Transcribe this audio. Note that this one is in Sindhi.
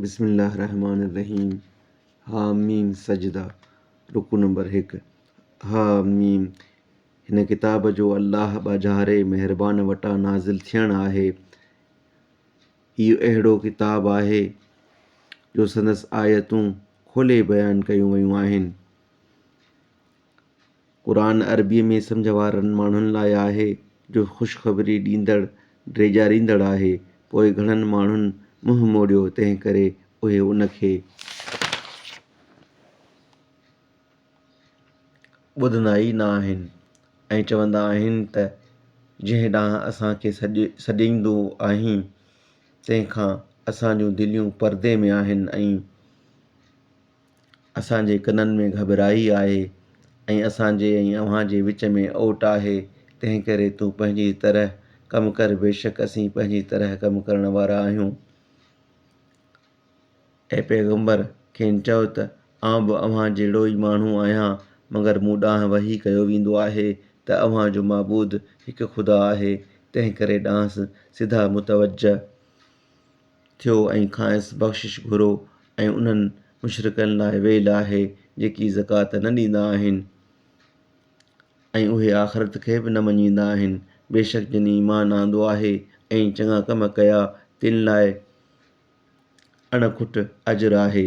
بسم الله الرحمٰن الرحيم حٰميم سجده رڪوع نمبر هڪ، حٰميم، هن ڪتاب جو الله ٻاجهاري مهربان وٽان نازل ٿيڻ آهي. هي اهڙو ڪتاب آهي جو سندس آيتون کولي بيان ڪيون ويون آهن. قرآن عربيء ۾ سمجهه وارن ماڻهن لاء آهي، جو خوشخبري ڏيندڙ، ڊيڄاريندڙ آهي، پوء گهڻن ماڻهن منهن موڙيو، تنهنڪري اهي ان کي ٻڌندا ئي نه آهن ۽ چوندا آهن ته جنهن ڏانهن اسان کي سڏيندو آهين، تنهن کان اسان جون دليون پردي ۾ آهن ۽. اسان جي ڪنن ۾ گهٻرائي آهي ۽ اسان جي ۽ اوهان جي وچ ۾ اوٽ آهي، تنهن ڪري تون پنهنجي طرح ڪم ڪر، بيشڪ اسين پنهنجي طرح ڪم ڪرڻ وارا آهيون. اي پيغمبر! کين چؤ ته، آئون به اوهان جهڙو ئي ماڻهو آهيان، مگر مون ڏانهن وحي ڪيو ويندو آهي ته اوهان جو معبود هڪ خدا آهي، تنهن ڪري ڏانهس سڌا متوجهه. ٿيو ۽ کانئس بخشش گهرو ۽ انهن مشرڪن لاء ويل آهي جيڪي زڪوات نه ڏيندا آهن ۽ اهي آخرت کي به نه مڃيندا آهن بيشڪ جن ايمان آندو آهي ۽ چڱا ڪم ڪيا تن لاء اڻ کٽ اجر آهي.